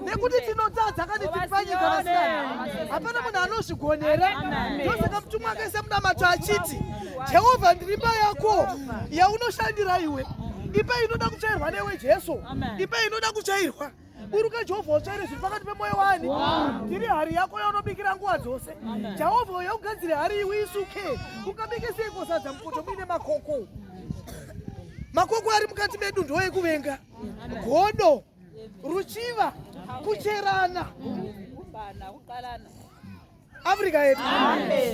nekuti tinotadza kani tiri panyika vasikana hapana munhu anozvigonera ndosaka mutumwa akaisa munamato achiti jehovha ndiri mba yako yaunoshandira iwe ipe inoda kutsvairwa newe jesu ipe inoda kutsvairwa buruka jehovha utsvaire zviri pakati pemwoyo wani tiri hari yako yaunobikira nguva dzose jehovha uya ugadzire hari iwe isuke ukabike seikosadza mupoto muine makoko makoko ari mukati medu ndoekuvenga godo ruchiva kucherana afrika yedu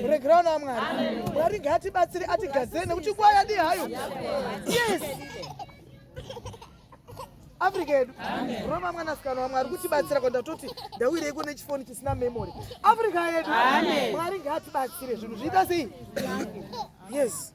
regerawo na mwari mwari ngaatibatsire atigadzire nekuti nguva yadi hayo yes afrika yedu roma mwanasikana wamwe ari kutibatsira ko ndatoti ndauyireiko nechifoni chisina memory afrika yedu mwari ngaatibatsire zvinhu zviita sei yes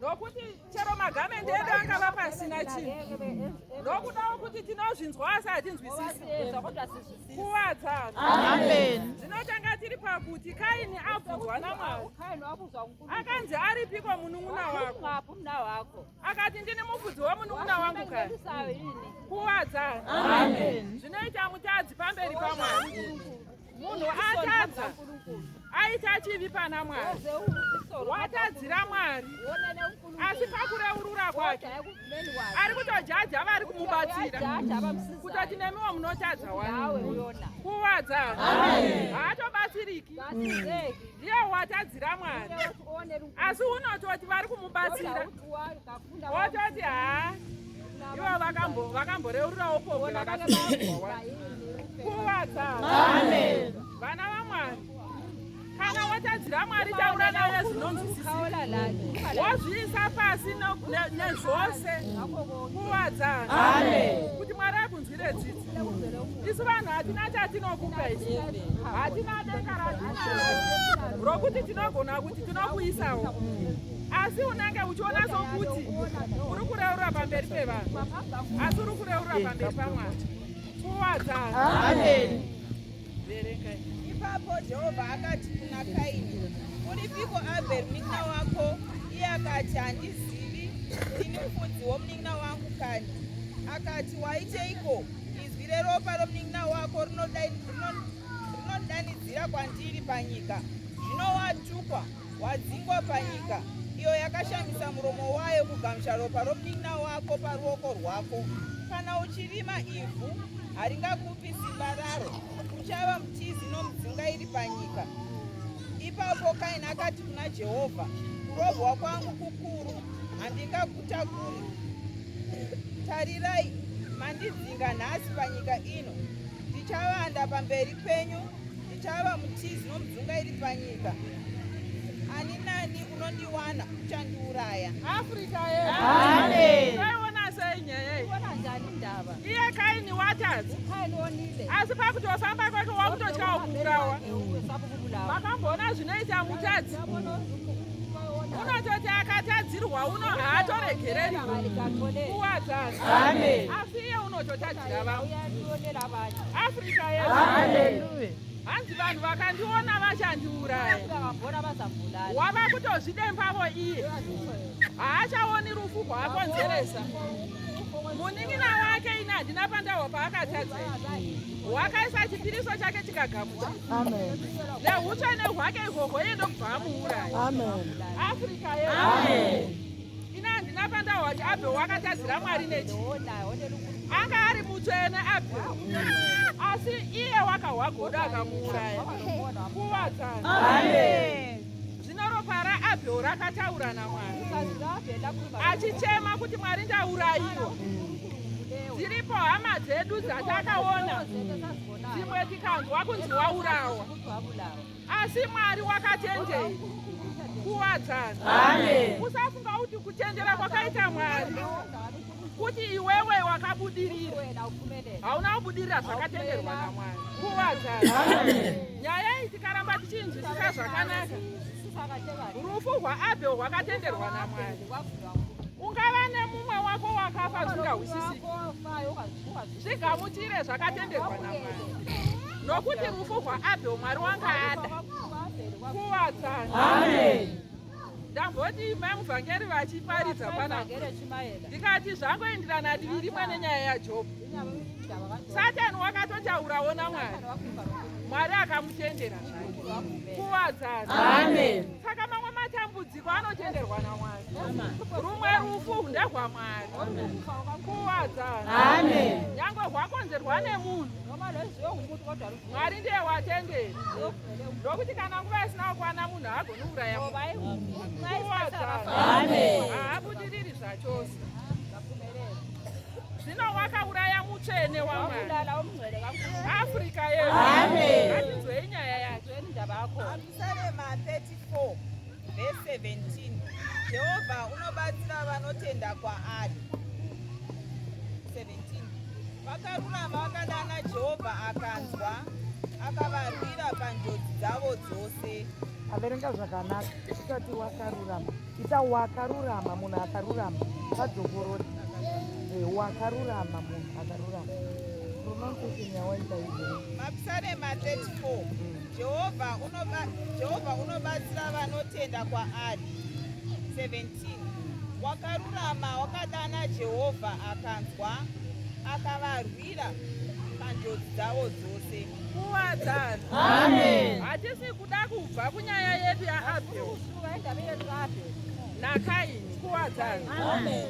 nokuti chero magamendi edu angava pasina chinhu nokudawo kuti tinozvinzwa asi hatinzwisisi kuvadza zvinotanga tiri pakuti kaini abvunzwa namwari akanzi aripiko munun'una wako akati ndini mufudzi wemunun'una wangu kai kuvadza zvinoita mutadzi pamberi pamwari munhu atadza aita chivi pana mwari watadzira mwari asi pakureurura kwake ari kutojaja vari kumubatsira kutoti nemiwo munotadza wani kuwadza haatobatsiriki ndiye watadzira mwari asi unototi vari kumubatsira wototi haa ivo vakamboreurirawo pombe vakakuvadza vana vamwari kana watadzira mwari taura naye zvinonzwisisa wozviisa pasi nezvose kuvadza kuti mwari akunzwire dzidzi isu vanhu hatina chatinokupa isu hatina denga ratinaro rokuti tinogona kuti tinokuisawo asi unenge uchiona sokuti uri kureurura pamberi pevanhu asi uri kureurura pamberi pamwari kuwadzaa Ipapo Jehovha akati kuna Kaini, Uripiko Abheri munin'ina wako? Iye akati, Handizivi, ndini mufudzi womunin'ina wangu kani. Akati, Waiteiko? Izwi reropa romunin'ina wako rinondidanidzira kwandiri panyika, zvino watukwa. Wadzingwa panyika iyo yakashamisa muromo wayo kugamucha ropa ropinda wako paruoko rwako. Kana uchirima ivhu, haringakupi simba raro, uchava mutizi nomudzinga iri panyika. Ipapo Kaini akati kuna Jehovha, Kurohwa kwangu kukuru, handingakutakuri. Tarirai, mandidzinga nhasi panyika ino, ndichavanda pamberi penyu Chava mutizi nomdzunga iri panyika. Ani nani unondiwana uchandiuraya. Africa yedu. Amen. Taiona sei nyaya iyi? Ona njani ndava? Iye Kaini watadza. Kaini onile. Asi pakutofamba kwake wakutotyawo kuurawa. Vakamboona zvinoita mutadzi. Unototi akatadzirwa uno haatoregereri. Kuwadzana. Amen. Asi iye unototadza. hanzi vanhu vakandiona vachandiuraya wava kutozvidembavo iye haachaoni rufu rwaakonzeresa munin'ina wake ini handina pandahwa paakatadza wakaisa chipiriso chake chikagamucha neutsvene hwake ihwohwo iye ndokubva amuuraya afrika ye Ina handina pandawati Abel wakatadzira Mwari nechi. Anga ari mutsvene Abel. Asi iye wakahwa godo akamuuraya. Kuvadzana. Amen. Zvino ropa raAbel rakataura naMwari. Achichema kuti Mwari ndaurayiwa. Dziripo hama dzedu dzatakaona. Dzimwe tikanzwa kunzi waurawa. Asi Mwari wakachenjera kuwadzana. Amen. Usafunga kuti kuchenjera kwakaita Mwari kuti iwewe wakabudirira hauna kubudirira zvakatenderwa namwari kuwadzana nyaya iyi tikaramba tichinzwisisa zvakanaka rufu rwaabhel rwakatenderwa namwari ungava nemumwe wako wakafa zvingawisisiki zvigamuchire zvakatenderwa namwari nokuti rufu rwaabhel mwari wanga ada kuwadzana ndamboti mai muvhangeri vachiparidza pana ndikati zvangoenderana divi rimwe nenyaya yajob satani wakatotaurawo namwari mwari akamutendera zvake kuwadzana saka mamwe matambudziko kwanotenderwa naMwari rumwe rufu ndehwaMwari kuwadza nyangwe hwakonzerwa nemunhu Mwari ndiye watenderi ndokuti kana nguva isina kukwana munhu haagoni kuuraya kuwadza haabudiriri zvachose zvino wakauraya mutsvene waMwari Afrika yedu atinzwei nyaya yake Sarema 34 verse 17 Jehovha unobatsira vanotenda kwaari 17 Vakarurama vakadana Jehovha akanzwa akavarwira panjodzi dzavo dzose averenga zvakanaka usati wakarurama ita wakarurama munhu akarurama vadzokorori eh, wakarurama munhu akarurama pronunciation yawaita izvo mapsalema 34 mm. Jehovha unoba, Jehovha unobatsira vanotenda kwaari. 17 wakarurama wakadana Jehovha akanzwa akavarwira panjodzi dzavo dzose. Kuwadzana. Amen. Hatisi kuda kubva kunyaya yedu yaAbel naKaini. Kuwadzana. Amen.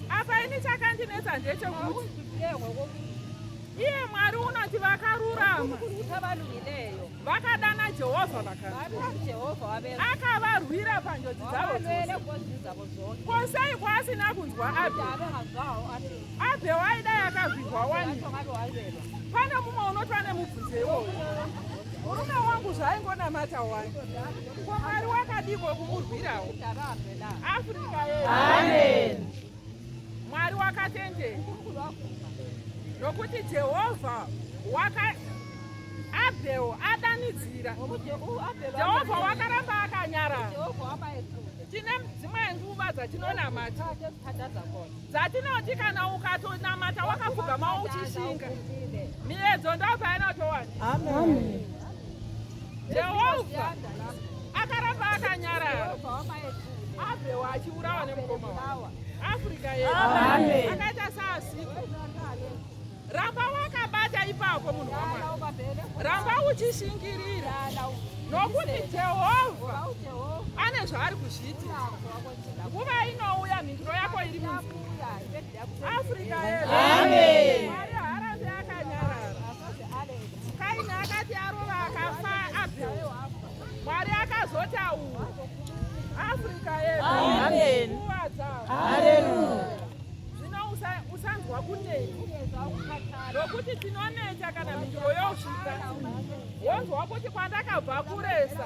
Apa ini chakandinetsa ndechekuti Iye Mwari unoti vakarurama vakadana Jehovha vakavarwira panjodzi dzavo ko sei kwaasina kunzwa Abhe? Abhe waida yakavigwa wani? Pane mumwe unoti vane mubvunzo iwowo murume wangu zvaingonamata wani ko mwari wakadiko kumurwirawo afrika yedu Mwari wakatendeka nokuti Jehovha waka Abheo adanidzira. Jehovha wakaramba akanyara. Tine dzimwe nguva dzatinonamata dzatinoti kana ukatonamata wakapfugama uchishinga miedzo ndopainotowana. Amen. Amen. Jehovha akaramba akanyarara abvewa achiurawa nemukoma wawa afrika yedu akaita saasiko ramba wakabata ipapo munhu wamwari ramba uchishingirira nokuti jehovha ane zvaari kuzviita nguva inouya mhinduro yako iri munzira Africa Amen. Mwari haarambi akanyarara. Kaini akati arova akafa Abel. Mwari akazotaura. Africa yedu. Amen. Nguva dzavo. Hallelujah. Zvino usa- usanzwa kunei. Nokuti tinoneta kana mhinduro yosvika. Wonzwa kuti kwandakabva kuresa.